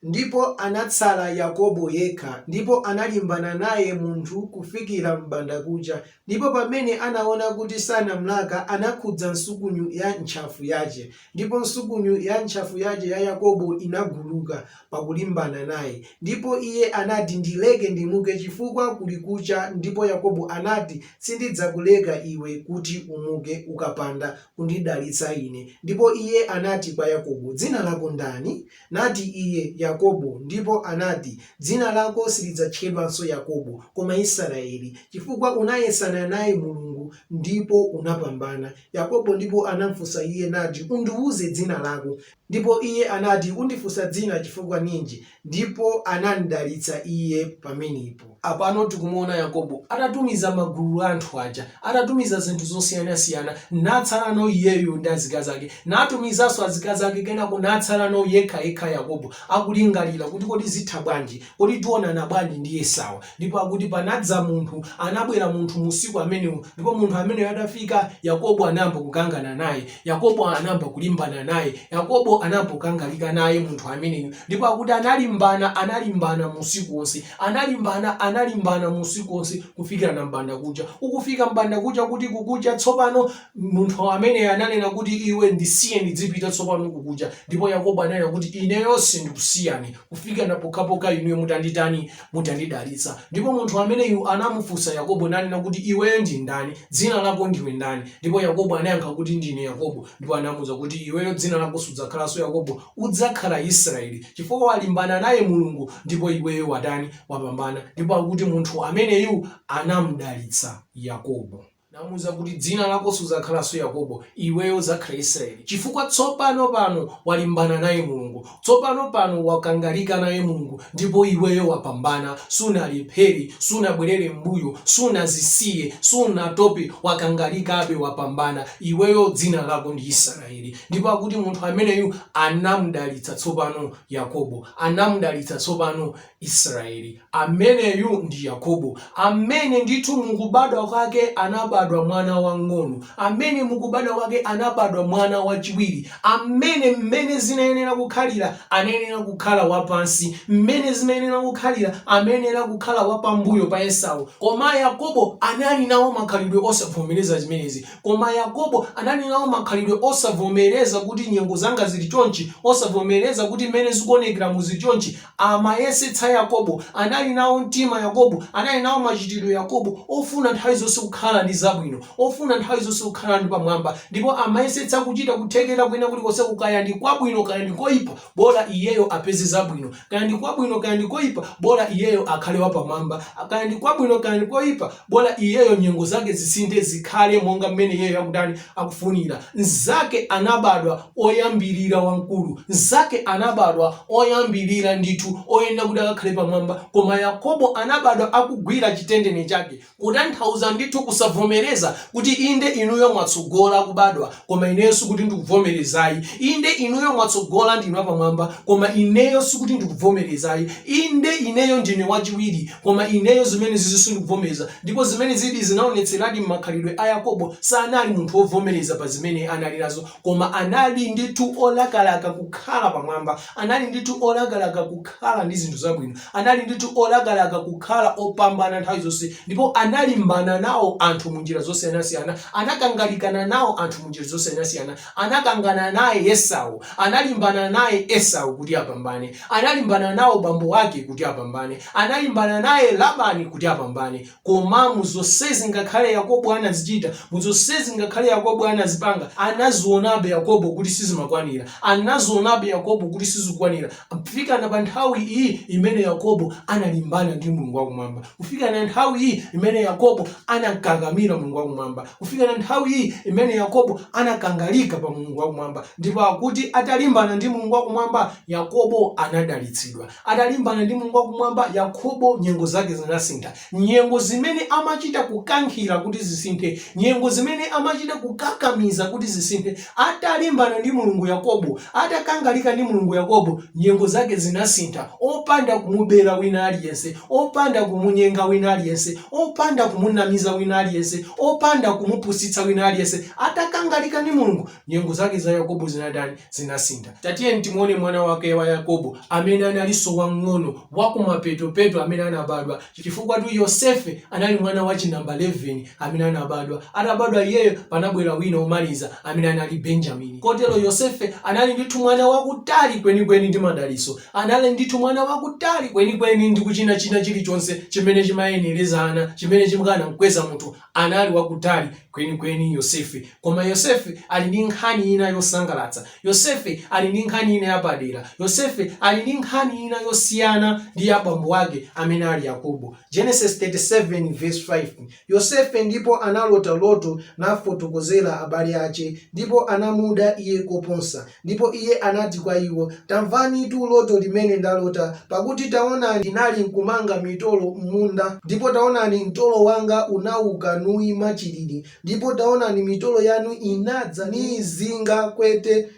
Ndipo anatsala Yakobo yekha, ndipo analimbana naye munthu kufikira m'bandakucha, ndipo pamene anaona kuti sanamlaka, anakhudza nsukunyu ya ntchafu yache, ndipo nsukunyu ya ntchafu yache ya Yakobo inaguluka, pakulimbana naye. Ndipo iye anati, Ndileke ndimuke, chifukwa kuli kucha, ndipo Yakobo anati, Sindidzakuleka iwe kuti umuke, ukapanda kundidalitsa ine. Ndipo iye anati kwa Yakobo, Dzina lako ndani? Nati iye, Yakobo. Ndipo anati, Dzina lako silidzatchedwanso Yakobo, koma Israeli, chifukwa unayesana naye Mulungu, ndipo unapambana. Yakobo ndipo anamfunsa iye, nati, Undiuze dzina lako. Ndipo Iye anati, Undifunsa dzina chifukwa ninji? Ndipo anamdalitsa iye pamenepo. Apano tikumuona Yakobo atatumiza magulu a anthu aja, atatumiza zinthu zosiyanasiyana, natsalano iyeyu ndi azikazi ake, natumizanso azikazi ake, kenako natsalano yekhayekha Yakobo, akulingalira kuti kodi zitha bwanji? Kodi tionana bwanji ndi Esau? Ndipo akuti panadza munthu, anabwera munthu musiku amenewo, ndipo munthu ameneyo atafika, Yakobo anayamba kukangana naye. Yakobo anayamba kulimbana naye. Yakobo anayamba kukangalika naye munthu ameneyu. Ndipo akuti analimbana, analimbana musiku onse. Analimbana, analimbana musiku onse, kufikirana m'bandakucha. Ukufika m'bandakucha, kuti kukucha tsopano, munthu amene ananena kuti, Iwe ndisiye ndidzipita tsopano kukucha. Ndipo Yakobo ananena kuti, Ineyo sindikusiyani. kufikana pokhapokha inuyo mutanditani mutandidalitsa ndipo munthu ameneyu anamufunsa yakobo nanena kuti iweyo ndi ndani dzina lako ndiwe ndani ndipo yakobo anayankha kuti ndine yakobo ndipo anamuuza kuti iweyo dzina lako sudzakhalanso yakobo udzakhala israeli chifukwa walimbana naye mulungu ndipo iweyo watani wapambana ndipo akuti munthu ameneyu anamdalitsa yakobo Namuuza kuti, Dzina lako sudzakhalanso Yakobo, iweyo udzakhala Isiraeli, chifukwa tsopano pano walimbana naye Mulungu. Tsopano pano wakangalika naye Mulungu ndipo iweyo wapambana. Sunalephere, sunabwerere m'mbuyo, sunazisiye, sunatope, wakangalikabe, wapambana. Iweyo dzina lako ndi Isiraeli. Ndipo akuti munthu ameneyu anamudalitsa tsopano Yakobo. Anamudalitsa tsopano Israeli, ameneyu ndi Yakobo, amene ndithu mu kubadwa kwake anabadwa mwana wang'ono, amene mu kubadwa kwake anabadwa mwana wachiwiri, amene mmene zinayenera kukhalira anayenera kukhala wapansi, mmene zimayenera kukhalira amayenera kukhala wapambuyo pa Esau. Koma Yakobo anali nawo makhalidwe osavomereza zimenezi. Koma Yakobo anali nawo makhalidwe osavomereza kuti nyengo zanga ziri chonchi, osavomereza kuti mmene zikuonekeramu ziri chonchi, amayesetsa Yakobo, anali nawo mtima Yakobo, anali nawo machitiro Yakobo, ofuna nthawi zonse kukhala ndi zabwino, ofuna nthawi zonse kukhala ndi pamwamba, ndipo amayesetsa kuchita kuthekera kwina kulikonseku, kaya ndi kwabwino kaya ndi koipa, bola iyeyo apeze zabwino, kaya ndi kwabwino kaya ndi koipa, bola iyeyo akhale wapamwamba, kaya ndi kwabwino kaya ndi koipa, Bola iyeyo nyengo zake zisinthe zikhale monga mmene iyeyo akutani, akufunira. Mzake anabadwa oyambirira wamkulu. Mzake anabadwa oyambirira ndithu oyenera kuti akakhale pamwamba. Koma Yakobo anabadwa akugwira chitendene chake. Kutanthauza ndithu kusavomereza kuti inde inuyo mwatsogola kubadwa Koma ineyo sikuti ndikuvomereza ayi. Inde, inuyo mwatsogola, ndinu apamwamba, koma ineyo sikuti ndikuvomereza ayi. Inde, ineyo ndine wachiwiri, koma ineyo zimenezizi sindikuvomereza. Ndipo zimenezidi zinaonetseradi m'makhalidwe a Yakobo. Sanali munthu wovomereza pa zimene anali nazo, koma anali ndithu wolakalaka kukhala pamwamba. Anali ndithu olakalaka kukhala ndi zinthu zabwino. Anali ndithu olakalaka kukhala opambana nthawi zonse ndipo analimbana nawo anthu mu njira zosiyanasiyana. Anakangalikana nawo anthu mu njira zosiyanasiyana. Anakangana naye Esau. Analimbana naye Esau kuti apambane. Analimbana nawo bambo ake kuti apambane. Analimbana naye Labani kuti apambane. Koma mu zonsezi, ngakhale Yakobo anazichita, mu zonsezi, ngakhale Yakobo anazipanga, anazionabe Yakobo kuti sizimakwanira, anazionabe Yakobo kuti sizikwanira, kufikana pa nthawi iyi imene Yakobo analimbana ndi Mulungu wa Kumwamba, kufikana nthawi iyi imene Yakobo anakakamira Mulungu wa Kumwamba, kufikana nthawi iyi imene Yakobo anakangalika pa Mulungu wa Kumwamba, ndipo akuti atalimbana ndi Mulungu wa Kumwamba, Yakobo anadalitsidwa. Atalimbana ndi Mulungu wakumwamba, Yakobo nyengo zake zinasintha. Nyengo zimene amachita kukankhira kuti zisinthe, nyengo zimene amachita kukakamiza kuti zisinthe, atalimbana ndi Mulungu Yakobo, atakangalika ndi Mulungu Yakobo, nyengo zake zinasintha, opanda kumubera wina aliyense, opanda kumunyenga wina aliyense, opanda kumunamiza wina aliyense, opanda kumupusitsa wina aliyense, atakangalika ndi Mulungu, Nyengo zake za Yakobo zinatani? Zinasintha. Tatiyeni timuone mwana wake wa Yakobo amene analinso wamng'ono, wakumapetopeto amene anabadwa, chifukwatu Yosefe anali mwana wachinamba 11 amene anabadwa. Atabadwa iyeyo, panabwera wina womaliza amene anali Benjamini. Kotero Yosefe anali ndithu mwana wakutali kwenikweni ndi madalitso, anali ndithu mwana wakutali kwenikweni ndi kuchina china chilichonse chimene chimayenereza ana, chimene chimkanamkweza munthu Anali wakutali kwenikweni, Yosefe. Koma Yosefe ali ndi nkhani ina yosangalatsa. Yosefe ali ndi nkhani ina yapadera. Yosefe ali ndi nkhani ina yosiyana ndi ya bambo wake, amene ali Yakobo. Genesis 37 verse 5, Yosefe ndipo analota loto nafotokozera abale ache, ndipo anamuda iye koposa. Ndipo iye anati kwa iwo, Tamvanitu loto limene ndalota, Pakuti taonani, ndinali nkumanga mitolo m'munda, ndipo taonani, mtolo wanga unauka nuima chilili, ndipo taonani, mitolo yanu inadza niizinga kwete,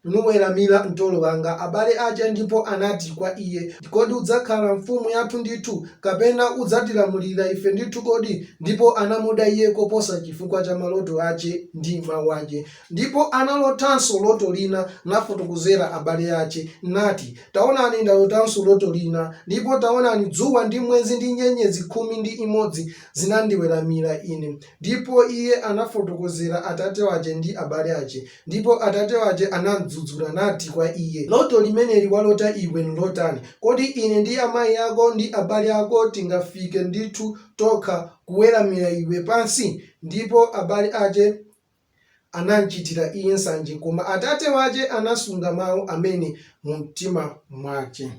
nuweramira mtolo wanga. Abale ache ndipo anati kwa iye, Kodi udzakhala mfumu yathu ndithu, kapena udzatilamulira ife ndithu kodi? Ndipo anamuda iye koposa chifukwa cha maloto ache ndi mau ache. Ndipo analotanso loto lina, nafotokozera abale ache, nati, Taonani, ndalotanso loto lina, ndipo taonani, dzuwa ndi mwezi ndi nyenyezi khumi ndi imodzi zinandiweramira ine. Ndipo iye anafotokozera atate wache ndi abale ache, ndipo atate wache anamdzudzula, nati kwa iye, Loto limeneli walota iwe nlotani? Kodi ine ndi amai ako ndi abale ako tingafike ndithu tokha kuweramira iwe pansi? Ndipo abale ache anamchitira iye nsanje, koma atate wache anasunga mau amene mumtima mwache.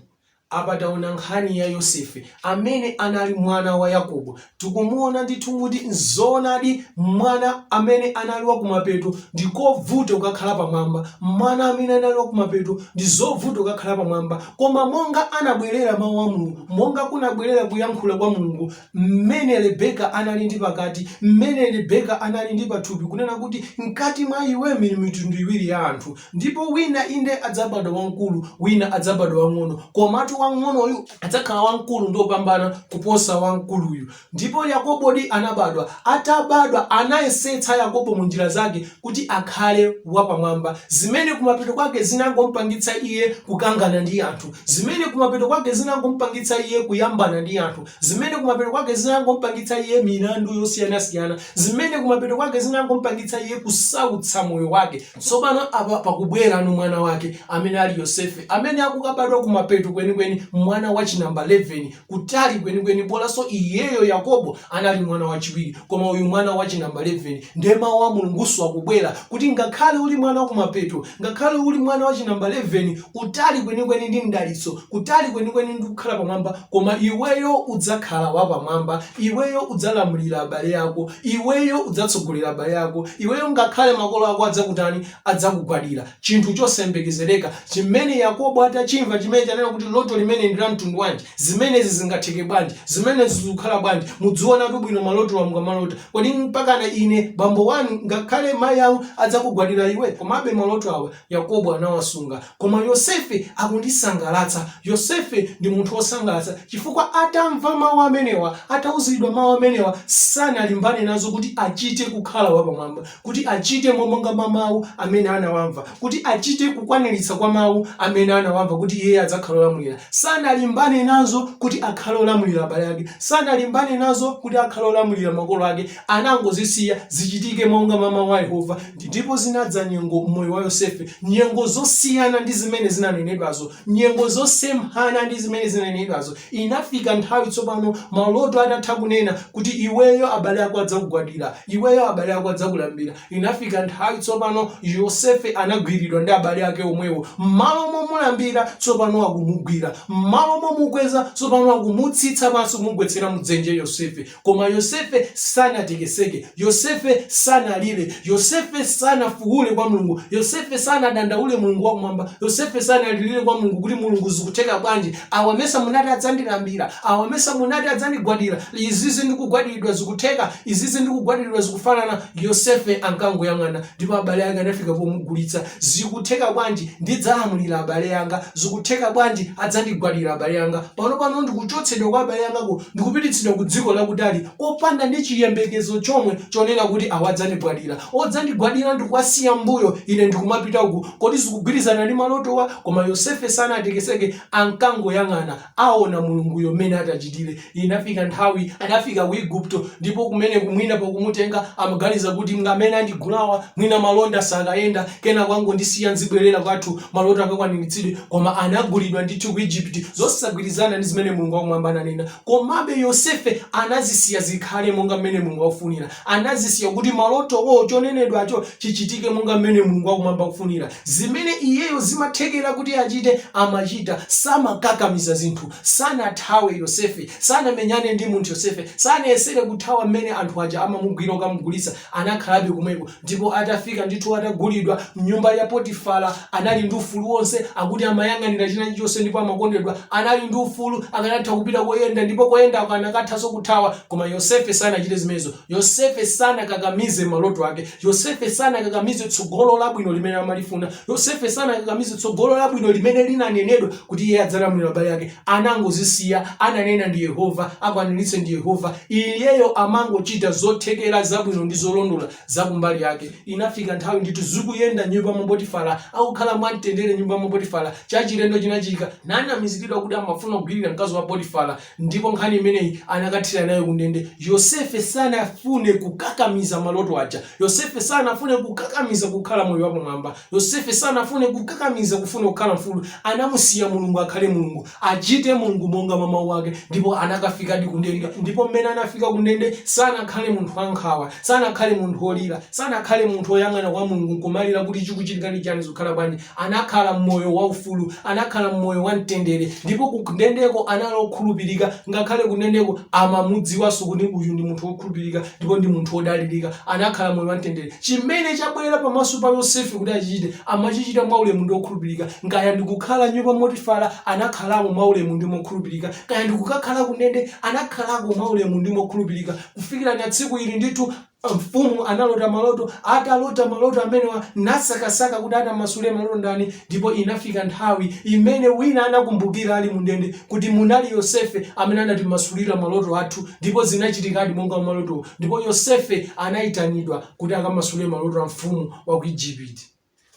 Apa taona nkhani ya Yosefe amene anali mwana wa Yakobo. Tikumuona ndithu kuti nzoonadi mwana amene anali wa kumapeto ndi kovuta kukakhala pamwamba. Mwana amene anali wa kumapeto ndi zovuta kukakhala pamwamba. Koma monga anabwerera mau a Mulungu, monga kunabwerera kuyankhula kwa Mulungu, mmene Rebeka anali ndi pakati, mmene Rebeka anali ndi pathupi, kunena kuti, Mkati mwa iwe muli mitundu iwiri ya anthu. Ndipo wina, inde, adzabadwa wamkulu, wina adzabadwa wang'ono, komatu wang'onoyu adzakhala wamkulu ndi wopambana kuposa wamkuluyu. Ndipo Yakobodi anabadwa. Atabadwa, anayesetsa Yakobo mu njira zake kuti akhale wapamwamba, zimene kumapeto kwake zinangompangitsa iye kukangana ndi anthu, zimene kumapeto kwake zinangompangitsa iye kuyambana ndi anthu, zimene kumapeto kwake zinangompangitsa iye milandu yosiyanasiyana, zimene kumapeto kwake zinangompangitsa iye kusautsa moyo wake. Tsopano, apa pakubwera mwana wake, amene ali Yosefe, amene akukabadwa kumapeto kwenikweni, mwana wachinamba leveni, kutali kwenikweni bolanso iyeyo yakobo anali mwana wachiwiri koma uyu mwana wa chinamba 11 nde mawu a mulungunso akubwera kuti ngakhale uli mwana wa kumapeto ngakhale uli mwana wa chinamba 11 kutali kwenikweni ndi mdalitso kutali kwenikweni ndi kukhala pamwamba koma iweyo udzakhala wapamwamba iweyo udzalamulira abale ako iweyo udzatsogolera abale ako iweyo ngakhale makolo ako adzakutani adzakugwadira Chinthu chosayembekezereka chimene Yakobo atachimva, chimene chanena kuti loto limeneli ndi la mtundu wanji? Zimenezi zingatheke bwanji? Zimenezi zikukhala bwanji? Mudziwonatu bwino malotowa mukamalota. Kodi mpakana ine bambo wanu ngakhale mayi anu adzakugwadira iwe? Komabe maloto awa Yakobo anawasunga. Koma Yosefe akundisangalatsa. Yosefe ndi munthu wosangalatsa chifukwa atamva mawu amenewa, atauzidwa mawu amenewa, sanalimbane nazo kuti achite kukhala wapamwamba. kuti achite mo monga mwa Mawu amene anawamva, kuti achite kukwaniritsa kwa Mawu amene anawamva, kuti iye adzakhala olamulira. Sanalimbane nazo kuti akhale olamulira abale ake. Sanalimbane nazo kuti akhale olamulira makolo ake. Anangozisiya zichitike monga mwa Mawu a Yehova. Ndipo zinadza nyengo m'moyo wa Yosefe, nyengo zosiyana ndi zimene zinanenedwazo, nyengo zosemphana ndi zimene zinanenedwazo. Inafika nthawi tsopano, maloto atatha kunena, kuti iweyo abale ako adzakugwadira, iweyo abale ako adzakulambira. Inafika nthawi tsopano, Yosefe anagwiridwa ndi abale ake omwewo. Mmalo momulambira, tsopano akumugwira. Mmalo momukweza, tsopano akumutsitsa pansi kumugwetsera mu dzenje Yosefe. Koma Yosefe sanatekeseke. Yosefe sanalire. Yosefe sanafuule kwa Mulungu. Yosefe sanadandaule Mulungu wa kumwamba. Yosefe sanalirire kwa Mulungu kuti Mulungu zikutheka bwanji? Awa mesa munati adzandilambira. Awa mesa munati adzandigwadira. Izizi ndikugwadiridwa zikutheka. Izizi ndikugwadiridwa zikufanana. Yosefe ankangoyang'ana. ndipo abale ake anafika pomugulitsa zikutheka bwanji ndidzalamulira abale anga zikutheka bwanji adzandigwadira abale anga pano pano ndikuchotsedwa kwa abale angako ndikupititsidwa ku dziko lakutali kopanda ndi chiyembekezo chomwe chonena kuti awa adzandigwadira odzandigwadira ndikuwasiya mbuyo ine ndikumapita uku kodi zikugwirizana ndi malotowa koma yosefe sanatekeseke ankangoyang'ana aona Mulunguyo mmene atachitire. Inafika nthawi anafika ku Igupto ndipo kumeneko mwina pakumutenga amaganiza kuti mmene andigulawa mwina malonda sakayenda kenako angondisiya nzibwerera kwathu maloto akakwaniritsidwe koma anagulidwa ndithu ku Egypt zosagwirizana ndi zimene Mulungu wakumwamba ananena komabe Yosefe anazisiya zikhale monga mmene Mulungu akufunira. anazisiya kuti malotowo, chonenedwacho, chichitike monga mmene Mulungu wakumwamba akufunira. Zimene iyeyo zimathekera kuti achite, amachita. Samakakamiza zinthu. Sanathawe Yosefe. Sanamenyane ndi munthu Yosefe. Sanayesere kuthawa mmene anthu aja amamugwira kukamugulitsa. Anakhalabe komweko. Ndipo atafika ndithu adagulidwa m'nyumba ya Potifara, Anali ndi ufulu wonse, akuti amayang'anira china chilichonse ndipo amakondedwa. Anali ndi ufulu, akanatha kupita koyenda ndipo koyendako akanathanso kuthawa. Koma Yosefe sanachite zimenezo. Yosefe sanakakamize maloto ake. Yosefe sanakakamize tsogolo labwino limene amalifuna. Yosefe sanakakamize tsogolo labwino limene linanenedwa kuti iye adzalamulira abale ake. Anangozisiya. Ananena ndi Yehova, akwaniritse ndi Yehova. Iyeyo amangochita zothekera, zabwino ndi zolondola za kumbali yake. Inafika nthawi ndithu zikuyenda m'nyumba mwa Potifara, akukhala mwamtendere m'nyumba mwa Potifara, chachilendo chinachitika, nanamiziridwa kuti amafuna kugwirira mkazi wa Potifara, ndipo nkhani imeneyi anakathera nayo kundende. Yosefe sanafune kukakamiza maloto aja. Yosefe sanafune kukakamiza kukhala moyo wapamwamba. Yosefe sanafune kukakamiza kufuna kukhala mfulu. Anamusiya Mulungu akhale Mulungu. achite Mulungu monga mwa mawu ake ndipo anakafikadi kundende ndipo mmene anafika kundende sanakhale munthu wankhawa sanakhale munthu wolira sanakhale munthu woyang'ana kwa Mulungu nkumalira kuti chikuchitika ndi chani zikukhala bwanji anakhala mmoyo waufulu anakhala mmoyo wa mtendere ndipo kundendeko anali okhulupirika ngakhale kundendeko amamudziwanso kuti uyu ndi munthu wokhulupirika ndipo ndi munthu wodalirika anakhala mmoyo wa mtendere Chimene chabwera pamaso pa Yosefe kuti achichite, amachichita mwa ulemu ndi mokhulupirika, kaya ndi kukhala m'nyumba mwa Potifara, anakhalamo mwa ulemu ndi mokhulupirika, kaya ndi kukakhala kundende, anakhalako mwa ulemu ndi mokhulupirika, kufikira tsiku lina ndithu, Mfumu analota maloto, atalota maloto amenewa, nasakasaka kuti atamasule maloto ndani, Ndipo inafika nthawi, imene wina anakumbukira ali m'ndende, kuti munali Yosefe amene anatimasulira maloto athu, ndipo zinachitikadi monga mwa malotowo, ndipo Yosefe anaitanidwa kuti akamasule maloto a mfumu wa ku Ijipiti.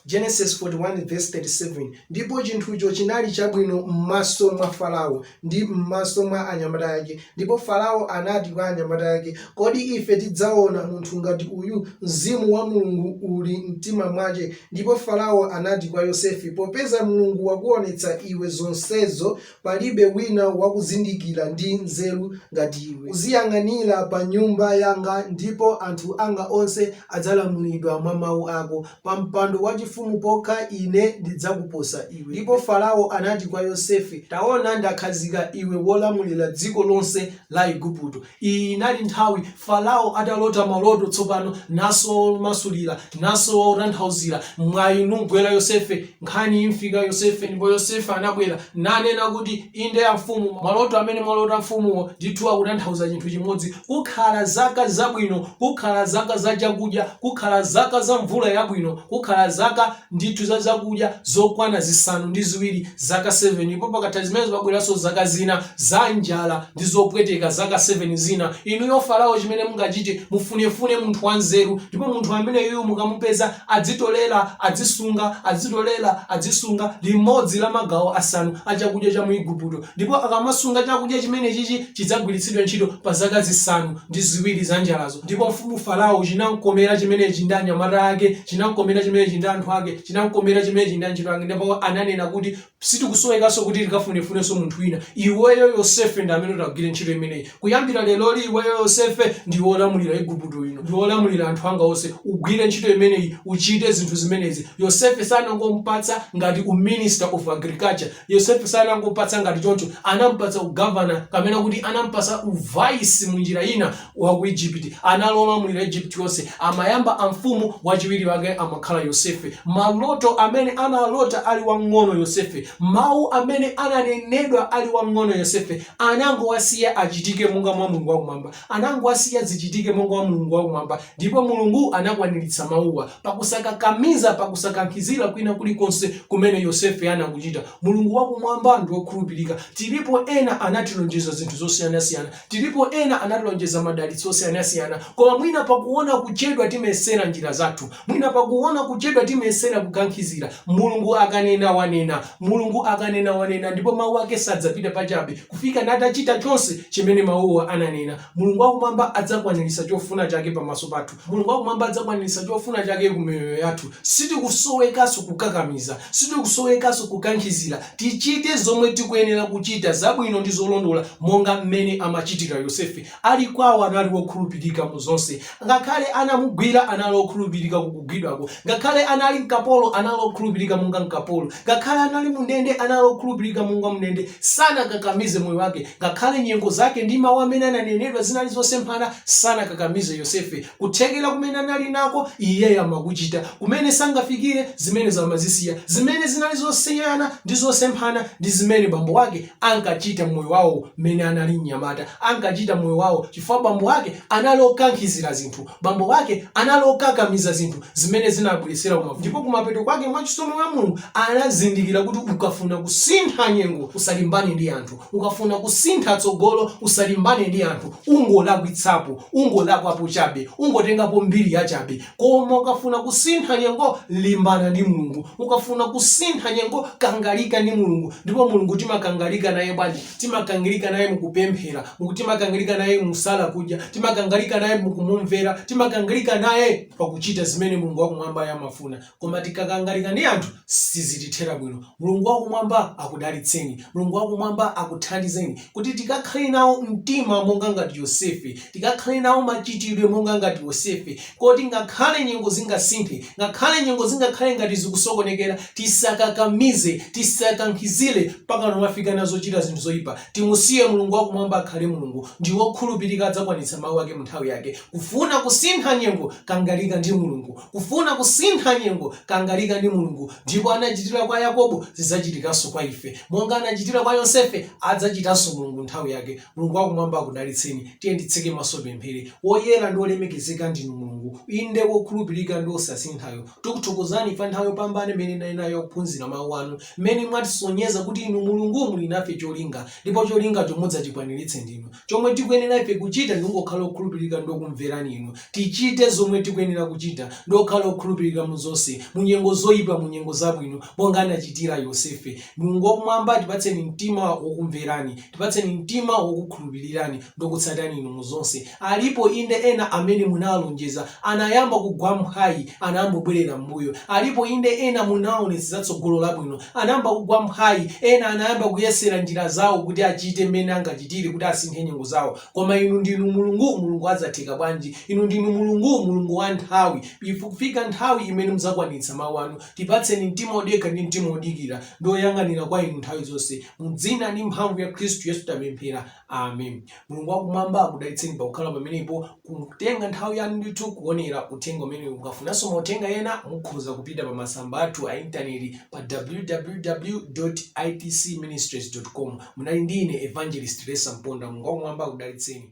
Genesis 41 vs 37, Ndipo chinthucho chinali chabwino m'maso mwa Farao, ndi m'maso mwa anyamata ake. Ndipo Farao anati kwa anyamata ake, Kodi ife tidzaona munthu ngati uyu? Mzimu wa Mulungu uli m'mtima mwace. Ndipo Farao anati kwa Yosefe, Popeza Mulungu wakuonetsa iwe zonsezo, palibe wina wakuzindikira ndi nzeru ngati iwe. Uziyang'anira pa nyumba yanga, ndipo anthu anga onse adzalamulidwa mwa mau ako. pa mpando wachifumu pokha Ine ndidzakuposa iwe. Ndipo Farao anati kwa Yosefe, Taona ndakhazika iwe wolamulira dziko lonse la Iguputo. Iyi inali nthawi Farao atalota maloto tsopano, nasowa womasulira, nasowa wotanthauzira. Mwayi numgwera Yosefe, nkhani imfika Yosefe, ndipo Yosefe anabwera, nanena kuti. Inde amfumu, maloto amene mwalota mfumuwo ndithu akutanthauza chinthu chimodzi, Kukhala zaka zabwino, kukhala zaka za chakudya, kukhala zaka za mvula yabwino, kukhala zaka ndithu za zakudya zokwana zisanu ndi ziwiri, zaka 7 ndipo pakatha zimenezo pabweranso zaka zina za njala ndi zopweteka, zaka 7 zina. Inuyo Farao chimene mungachite, mufunefune munthu wanzeru ndipo munthu ameneyuyu mukamupeza Adzitolera, adzisunga, adzitolera, adzisunga, limodzi la magawo asanu a chakudya cha mu Iguputo, ndipo akamasunga chakudya chimenechichi chidzagwiritsidwe ntchito pa zaka zisanu ndi ziwiri za njalazo. Ndipo mfumu Farao chinamkomera chimenechi ndi anyamata ake, chinamkomera chimenechi ndi anthu ake, chinamkomera chimenechi ndi antchito ake, ndipo ananena kuti, Sitikusowekanso kuti tikafunefunenso munthu wina. Iweyo Yosefe ndi amene utagwire ntchito imeneyi. Kuyambira leroli, iweyo Yosefe ndi wolamulira Iguputo ino. Ndi wolamulira anthu anga onse. Ugwire ntchito imeneyi. Uchite zinthu zimenezi. Yosefe sanangomupatsa ngati u Minister of Agriculture. Yosefe sanangomupatsa ngati choncho. Anampatsa u Governor kapena kuti anampatsa u Vice munjira ina. wa ku Egypt anali olamulira Egypt yonse amayamba amfumu wachiwiri wake amakhala Yosefe maloto amene analota ali wang'ono Yosefe mawu amene ananenedwa ali wang'ono Yosefe anangowasiya achitike monga mwa Mulungu wakumwamba anangowasiya zichitike monga mwa Mulungu wakumwamba ndipo Mulungu anakwaniritsa mawuwa pakusakakamiza pakusakankhizira kwina kulikonse kumene Yosefe anakuchita Mulungu wakumwamba ndi wokhulupirika tilipo ena anatilonjeza zinthu zosiyanasiyana Tilipo ena anatilonjeza madalitso osiyanasiyana koma mwina pakuona kuchedwa timesera njira zathu mwina pakuona kuchedwa timesera kukankhizira Mulungu akanena wanena Mulungu akanena wanena ndipo mau ake sadzapita pachabe kufika natachita chonse chimene mauwa ananena Mulungu wakumwamba adzakwaniritsa chofuna chake pamaso pathu Mulungu wakumwamba adzakwaniritsa chofuna chake ku miyoyo yathu. Sitikusowekanso kukakamiza. Sitikusowekanso kukankhizira. Tichite zomwe tikuyenera kuchita, zabwino ndi zolondola, monga mmene amachitira Yosefe. Ali kwawo, anali wokhulupirika mu zonse. Ngakhale anamugwira, anali okhulupirika ku kugwidwako. Ngakhale anali mkapolo, anali okhulupirika monga mkapolo. Ngakhale anali mundende, anali okhulupirika monga mundende. Sanakakamize moyo wake. Ngakhale nyengo zake ndi mawu amene ananenedwa zinali zosemphana, sanakakamize Yosefe. Kuthekera kumene anali nako, iyeyo amakuchita. Kumene sangafikire, zimenezo amazisiya. Zimene zinali zosiyana ndi zosemphana ndi zimene bambo wake ankachita mmoyo wawo mmene anali mnyamata, ankachita mmoyo wawo chifukwa bambo wake anali okankhizira zinthu. Bambo wake anali okakamiza zinthu zimene zinawabweretsera mavuto ndipo kumapeto kwake mwa chisomo cha Mulungu anazindikira kuti ukafuna kusintha nyengo usalimbane ndi anthu, ukafuna kusintha tsogolo usalimbane ndi anthu ungolakwitsapo, ungolakwapo chabe, ungotengapo mbiri yachabe koma ukafuna kusintha nyengo limbana ndi Mulungu, ukafuna kusintha nyengo kangalika ndi Mulungu ndipo Mulungu timakangalika naye bwanji? timakangalika naye mukupemphera timakangalika naye mu kusala kudya timakangalika naye mukumumvera timakangalika naye pakuchita zimene mulungu wakumwambayo amafuna koma tikakangalika ndi anthu sizitithera bwino mulungu wakumwamba akudalitseni mulungu wakumwamba akuthandizeni kuti tikakhale nawo mtima monga ngati yosefe Tikakhale nawo machitidwe monga ngati Yosefe, kuti ngakhale nyengo zingasinthe, ngakhale nyengo zingakhale ngati zikusokonekera, tisakakamize, tisakankhizire mpakana kumafika pa zochita zinthu zoipa. Timusiye Mulungu wakumwamba akhale Mulungu. Ndi wokhulupirika adzakwanitsa mau ake munthawi yake. Kufuna kusintha nyengo kangalika ndi Mulungu. Kufuna kusintha nyengo kangalika ndi Mulungu. Ndipo monga anachitira kwa Yakobo, zidzachitikanso kwa ife. Monga anachitira kwa Yosefe, adzachitanso Mulungu munthawi yake. Mulungu Wakumwamba akudalitseni. Tiyeni titseke maso tipemphere. Woyera ndi wolemekezeka ndinu Mulungu, inde wokhulupirika ndi wosasinthayo. Tikuthokozani pa nthawi yopambana imene tinali nayo yakuphunzira mawu anu, mmene mwatisonyeza kuti inu Mulungu muli nafe cholinga, ndipo cholingacho mudzachikwaniritsa ndinu. Chomwe tikuyenera ife kuchita ndi kungokhala okhulupirika ndi okumverani inu. Tichite zomwe tikuyenera kuchita ndi kukhala okhulupirika mu zonse, mu nyengo zoipa, mu nyengo zabwino, monga anachitira Yosefe. Mulungu Wakumwamba, tipatseni mtima wokumverani. Tipatseni mtima wokukhulupirirani ndi okutsatani inu mu zonse. Alipo inde ena amene munawalonjeza anayamba kugwa mphwayi anayamba kubwerera m'mbuyo. Alipo inde ena munawaonetsa tsogolo labwino anayamba kugwa mphwayi ena anayamba kuyesera njira zawo kuti achite mmene angachitire kuti asinthe nyengo zawo. Koma inu ndinu Mulungu Mulungu wa zatheka bwanji. Inu ndinu Mulungu Mulungu wa nthawi. Ikufika nthawi imene mudzakwanitsa mawu anu. Tipatseni mtima odekha ndi mtima odikira ndi oyang'anira kwa inu nthawi zonse. Mudzina ndi mphamvu ya Khristu Yesu tapemphera. Amen. Mulungu wakumwamba akudalitseni pakukhala pamenepo kutenga nthawi yanu ndithu kuonera uthenga umenewu mukafunanso mauthenga ena mukhoza kupita pa masamba athu a intaneti pa www itc ministries com munali ndi ine evangelist resa mponda mulungu wakumwamba akudalitseni